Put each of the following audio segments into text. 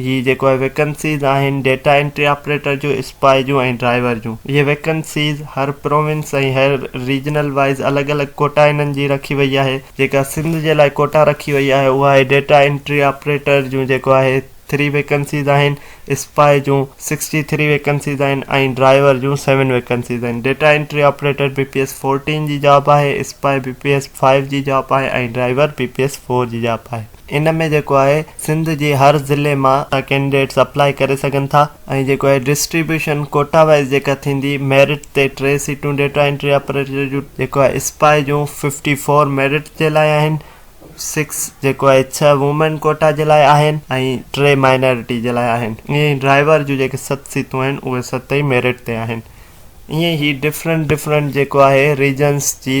هي جيڪو آهي ويڪنسيز آهن ڊيٽا انٽري آپريٽر جون، اسپائي جون ۽ ڊرائيور جون. اهي ويڪنسيز هر پروونس ۽ هر ريجنل وائيز الڳ الڳ ڪوٽا انهن جي رکي وئي آهي. جيڪا سنڌ جي لاء ڪوٽا رکي وئي آهي اها آهي ڊيٽا انٽري آپريٽر جون جيڪو آهي ٿري ويڪنسيز آهن، اسپائي جون سڪسٽي ٿري ويڪنسيز آهن ۽ ڊرائيور جون سيون ويڪنسيز آهن. Data entry operator B P S fourteen جي جاب آهي، sepoy B P S five جي جاب آهي ۽ driver B P S four جي جاب آهي. ان ۾ جيڪو آهي سنڌ جي هر ضلعي مان ڪينڊيڊيٽس اپلائي ڪري سگهن ٿا ۽ جيڪو آهي ڊسٽريبيوشن ڪوٽا وائيز جيڪا ٿيندي ميرٽ تي ٽي سيٽون ڊيٽا انٽري آپريٽر جون جيڪو آهي اسپائي جون ففٽي فور ميرٽ جي لاء آهن سڪس جيڪو آهي ڇهه وومين ڪوٽا جي لاء آهن ۽ ٽي مائنارٽي جي لاء آهن ائين ئي ڊرائيور جون جيڪي ست سيتون آهن اهي ست ئي ميرٽ تي آهن ائين ئي ڊفرنٽ ڊفرنٽ جيڪو آهي ريجنس جي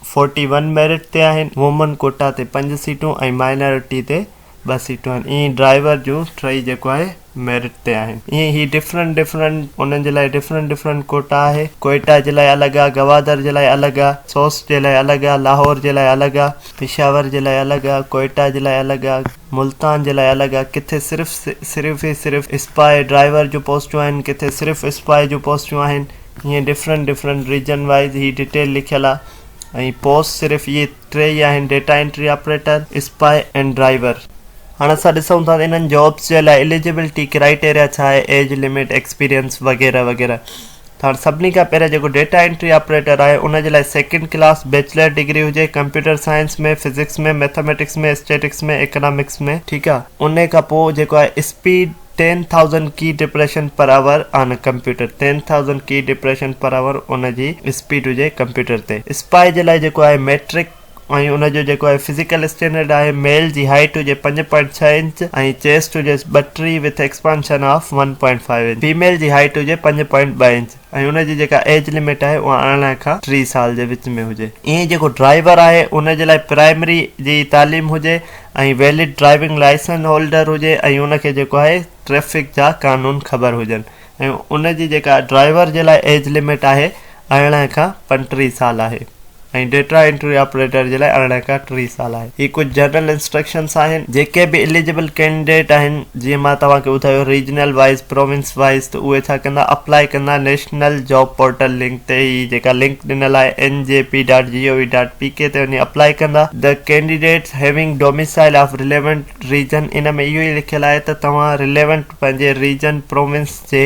فورٽي ون ميرٽ تي آهن، وومن ڪوٽا تي پنج سيٽون ۽ مائنارٽي تي ٻه سيٽون آهن، ائين ئي ڊرائيور جون ٽيئي جيڪو آهي ميرٽ تي آهن، ائين ئي هي ڊفرنٽ ڊفرنٽ انهن جي لاء ڊفرنٽ ڊفرنٽ ڪوٽا آهي، ڪوئيٽا جي لاء الڳ آهي، گوادر جي لاء الڳ آهي، سوس جي لاء الڳ آهي، لاهور جي لاء الڳ آهي، پشاور جي لاء الڳ آهي، ڪوئيٽا جي لاء الڳ آهي، ملتان جي لاء الڳ آهي، ڪٿي صرف صرف ئي صرف اسپاهي ڊرائيور جون پوسٽون آهن، ڪٿي صرف اسپاهي جون پوسٽون آهن، ائين ڊفرنٽ ڊفرنٽ ريجن وائيز هي ڊيٽيل لکيل آ ۽ پوسٽ صرف اهي ٽي ئي آهن data entry operator, spy ۽ driver. هاڻ اسان ڏسون ٿا ته انهن جابس جي لاء اليجبلٽي ڪرائيٽيريا ڇا آهي ايج لمٽ، ايڪسپيرينس وغيره وغيره ته هاڻ سڀني کان پهريان جيڪو ڊيٽا انٽري آپريٽر آهي ان جي لاء سيڪنڊ ڪلاس بيچلر ڊگري هجي computer science ۾ physics ۾ mathematics ۾ statistics ۾ economics ۾ ٺيڪ آ انهي کان پوء جيڪو آهي speed ten thousand key depression per hour on computer ten thousand key depression per hour ان جي اسپيڊ هجي ڪمپيوٽر تي اسپائي جي لاء جيڪو آهي ميٽرڪ ۽ ان جو جيڪو آهي فزيڪل اسٽينڊرڊ آهي ميل جي هائيٽ هجي پنج پوائنٽ ڇهه انچ ۽ چيسٽ هجيس ٻٽيهه with expansion of one point five inch female جي هائيٽ هجي پنج پوائنٽ ٻه انچ. ۽ ان جي جيڪا ايج لمٽ آهي اها ارڙهن کان ٽي سال جي وچ ۾ هجي. ايئن جيڪو ڊرائيور آهي ان جي لاء پرائمري جي تعليم هجي ۽ ويلڊ ڊرائيونگ لائسنس هولڊر هجي ۽ ان کي جيڪو آهي ٽريفڪ جا قانون خبر هجن ۽ ان جي جيڪا ڊرائيور جي لاء ايج لمٽ آهي ارڙهن کان پنٽيهه سال آهي. ۽ ڊيٽا انٽري آپريٽر جي لاء ارڙهن کان ٽيهه سال آهي. هي ڪجهه جنرل انسٽرڪشنز آهن جيڪي به اليجبل ڪينڊيڊيٽ آهن جيئن مان توهان کي ٻڌايو ريجنل وائيز پروونس وائيز ته اهي ڇا ڪندا اپلائي ڪندا نيشنل جاب پورٽل لنڪ تي هي جيڪا لنڪ ڏنل آهي N J P dot G O V dot P K تي وڃي اپلائي ڪندا the candidates having domicile of relevant region ان ۾ اهو ئي لکيل آهي ته توهان رليونٽ پنهنجي ريجن پروونس جي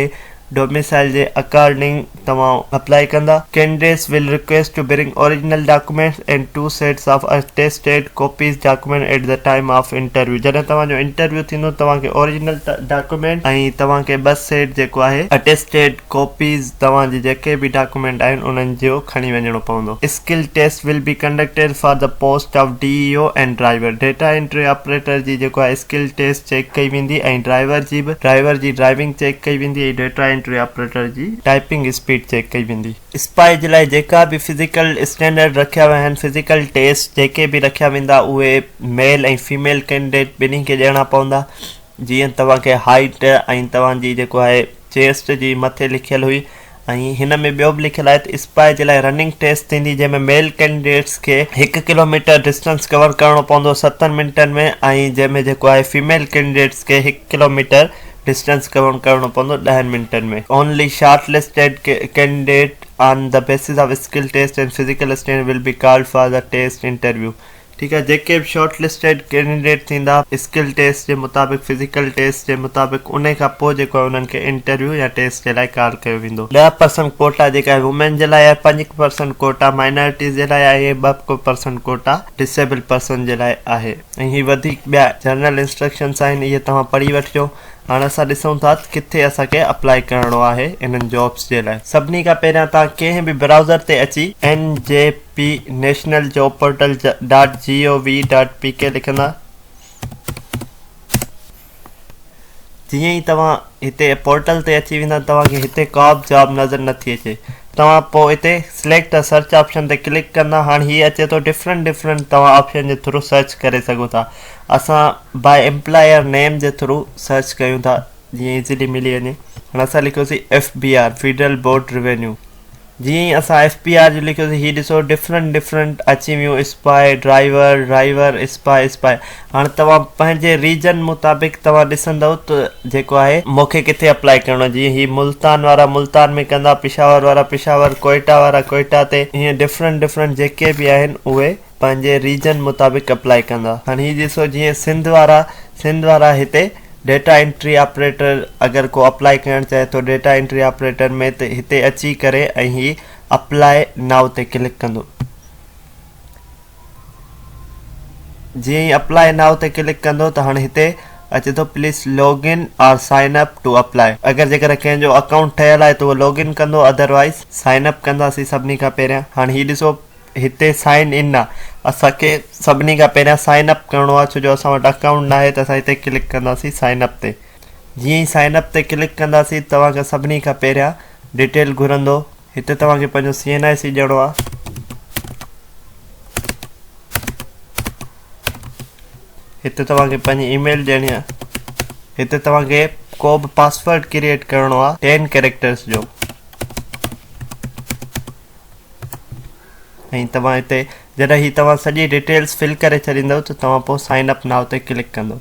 ڊوميسائيل جي اڪارڊنگ توهان اپلائي ڪندا. Candidates will request to bring original documents and two sets of attested copies document at the time of interview جڏهن توهان جو انٽرويو ٿيندو توهان کي اوريجنل ڊاڪيومينٽ ۽ توهان کي ٻه سيٽ جيڪو آهي اٽيسٽيڊ ڪوپيز توهان جي جيڪي به ڊاڪيومينٽ آهن انهن جو کڻي وڃڻو پوندو. Skill test will be conducted for the post of D E O and driver data entry operator جي جيڪو آهي اسڪل ٽيسٽ چيڪ ڪئي ويندي ۽ ڊرائيور جي به ڊرائيور جي ڊرائيونگ چيڪ ڪئي ويندي ۽ ڊيٽا انٽري آپريٽر جي ٽائيپنگ اسپيڊ چيڪ ڪئي ويندي. اسپائي جي لاء جيڪا به فزيڪل اسٽينڊرڊ رکيا ويا آهن فزيڪل ٽيسٽ جيڪي به رکيا ويندا اهي ميل ۽ فيميل ڪينڊيڊيٽ ٻنهي کي ڏيڻا پوندا جيئن توهان کي هائيٽ ۽ توهان جي جيڪو آهي چيسٽ جي مٿي لکيل هئي ۽ هن ۾ ٻيو به لکيل آهي ته اسپائي جي لاء رننگ ٽيسٽ ٿيندي جنهن ۾ ميل ڪينڊيڊيٽس کي هڪ ڪلو ميٽر ڊسٽنس ڪور ڪرڻو پوندو ستن منٽن ۾ ۽ جنهن ۾ جيڪو آهي فيميل ڪينڊيڊيٽس کي هڪ ڪلو ميٽر ڊسٽنس ڪور ڪرڻو پوندو ڏهن منٽن ۾. Only shortlisted candidate on the basis of skill test and physical stand will be called for the test interview ٺيڪ آهي جيڪي به شارٽ لسٽيڊ ڪينڊيڊيٽ ٿيندا اسڪل ٽيسٽ جي مطابق فزيڪل ٽيسٽ جي مطابق انهي کان پوء جيڪو آهي انهن کي انٽرويو يا ٽيسٽ جي لاء ڪال ڪيو ويندو ڏهه پرسنٽ ڪوٽا جيڪا آهي وومين جي لاء آهي پنج پرسنٽ ڪوٽا مائنارٽيز جي لاء آهي ۽ ٻه پرسنٽ ڪوٽا ڊسيبل پرسن جي لاء آهي ۽ هي وڌيڪ ٻيا جنرل انسٽرڪشنس آهن اهي توهان پڙهي وٺجو هاڻ اسان ڏسون ٿا ته ڪٿي اسان کي اپلائي ڪرڻو آهي انهن جابس جي لاء سڀني کان پهريان توهان ڪنهن به براوزر تي اچي NJ P national job portal dot G O V dot P K لکندا جيئن ئي توهان هتي پورٽل تي اچي ويندا توهان کي هتي ڪا به جاب نظر نٿي اچي توهان پوء هتي سليڪٽ ا سرچ آپشن تي ڪلڪ ڪندا هاڻي هي اچي ٿو ڊفرنٽ ڊفرنٽ توهان آپشن جي ٿرو سرچ ڪري سگهو ٿا اسان باء امپلائر نيم جي ٿرو سرچ ڪيون ٿا جيئن ايزلي ملي وڃي هاڻي اسان لکيوسي F B R federal board revenue جيئن ئي اسان ايف پي آر جي لکيوسين هي ڏسو ڊفرنٽ ڊفرنٽ اچي ويون اسپاء ڊرائيور ڊرائيور اسپاء اسپاء هاڻي توهان پنهنجي ريجن مطابق توهان ڏسندؤ ته جيڪو آهي مون کي ڪٿي اپلائي ڪرڻو جيئن هي ملتان وارا ملتان ۾ ڪندا پشاور وارا پشاور ڪوئيٽا وارا ڪوئيٽا تي هيئن ڊفرنٽ ڊفرنٽ جيڪي به آهن اهي پنهنجي ريجن مطابق اپلائي ڪندا هاڻ هي ڏسو جيئن سنڌ وارا سنڌ وارا هتي ڊيٽا انٽري آپريٽر اگر ڪو اپلائي ڪرڻ چاهي ٿو ڊيٽا انٽري آپريٽر ۾ ته هتي اچي ڪري ۽ هي اپلائي نائو تي ڪلڪ ڪندو جيئن ئي اپلائي نائو تي ڪلڪ ڪندو ته هاڻ هتي اچي ٿو please log in or sign up to apply اگر جيڪڏهن ڪنهن جو اڪائونٽ ٺهيل آهي ته اهو لاگ ان ڪندو اڌر وائيز سائن اپ ڪنداسين سڀني کان پهريان هاڻ هي ڏسو هتي سائن ان آ اسان کي سڀني کان پهريان سائن اپ ڪرڻو آ ڇو جو اسان وٽ اڪائونٽ ناهي ته اسان هتي ڪلڪ ڪنداسين سائن اپ تي جيئن ئي سائن اپ تي ڪلڪ ڪنداسين توهان کان سڀني کان پهريان ڊيٽيل گهرندو هتي توهان کي پنهنجو سي اين آء سي ڏيڻو آ هتي توهان کي پنهنجي اي ميل ڏيڻي آ هتي توهان کي ڪو به پاسورڊ ڪريئيٽ ڪرڻو آ ٽين ڪيريڪٽرس جو ۽ توهان هتي جڏهن هي توهان سڄي ڊيٽيلز فل ڪري ڇڏيندو ته توهان پوء سائن اپ ناء تي ڪلڪ ڪندو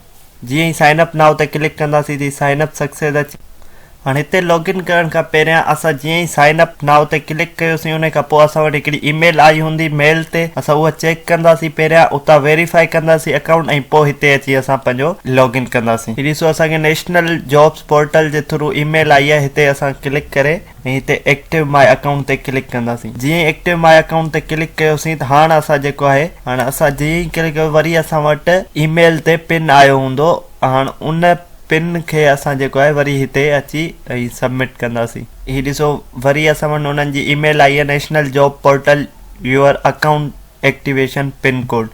جيئن ئي سائن اپ ناء تي ڪلڪ ڪنداسين تي سائن اپ سڪسيس اچي هاڻي هتي لاگ ان ڪرڻ کان پهريان اسان جيئن ئي سائن اپ ناء تي ڪلڪ ڪيوسين ان کان پوء اسان وٽ هڪڙي اي ميل آئي هوندي ميل تي اسان اها چيڪ ڪنداسين پهريان اتان ويريفائي ڪنداسين اڪائونٽ ۽ پوء هتي اچي اسان پنهنجو لاگ ان ڪنداسين هي ڏسو اسان کي نيشنل جابس پورٽل جي ٿرو اي ميل آئي آهي هتي اسان ڪلڪ ڪري ۽ هتي ايڪٽو ماء اڪائونٽ تي ڪلڪ ڪنداسين جيئن ئي ايڪٽو ماء اڪائونٽ تي ڪلڪ ڪيوسين ته هاڻ اسان جيڪو آهي هاڻ اسان جيئن ئي ڪلڪ ڪيو وري اسان وٽ اي ميل تي پن آيو هوندو هاڻ ان پن کي اسان جيڪو آهي وري هتي اچي ۽ سبمٽ ڪنداسين هي ڏسو وري اسان وٽ انهن جي اي ميل آئي آهي national job portal your account activation pin code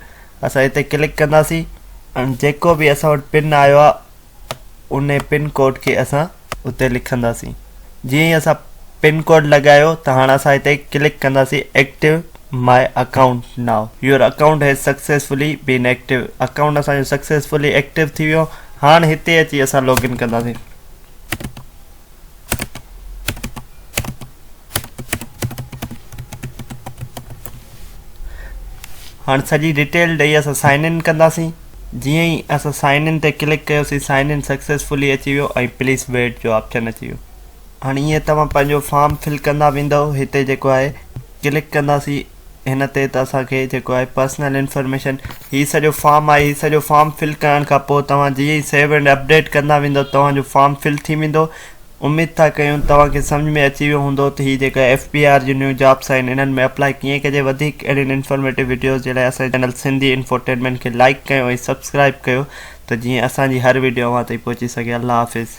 اسان هتي ڪلڪ ڪنداسين هاڻ جيڪو به اسان وٽ پن آيو آهي ان پن ڪوڊ کي اسان اتي لکنداسين جيئن ئي اسان پن ڪوڊ لڳايو ته هاڻ اسان هتي ڪلڪ ڪنداسين active my account now your account has successfully been active account اسان جو سڪسيسفلي ايڪٽيو ٿي ويو هاڻ هتي اچي اسان لاگ ان ڪنداسين هاڻ سڄي ڊيٽيل ڏئي اسان سائن ان ڪنداسين جيئن ئي اسان سائن ان تي ڪلڪ ڪيوسين سائن ان سڪسيسفلي اچي ويو ۽ پليز ويٽ جو آپشن اچي ويو هاڻ ايئن توهان پنهنجو فارم فل ڪندا ويندو هتي جيڪو آهي ڪلڪ ڪنداسين هن تي ته اسان کي جيڪو آهي پرسنل انفارميشن هي سڄو فارم آهي هي سڄو فارم فل ڪرڻ کان پوء توهان جيئن ئي سيو اينڊ اپڊيٽ ڪندا ويندو توهان جو فارم فل ٿي ويندو اميد ٿا ڪيون توهان کي سمجھ ۾ اچي ويو هوندو ته هي جيڪا ايف بي آر جي نيون جابس آهن انهن ۾ اپلائي ڪيئن ڪجي وڌيڪ اهڙين انفارميٽو وڊيوز جي لاء اسان جي چينل سنڌي انفوٽينمينٽ کي لائيڪ ڪيو ۽ سبسڪرائيب ڪيو ته جيئن اسان جي هر وڊيو اوهان تائين پهچي سگهي الله حافظ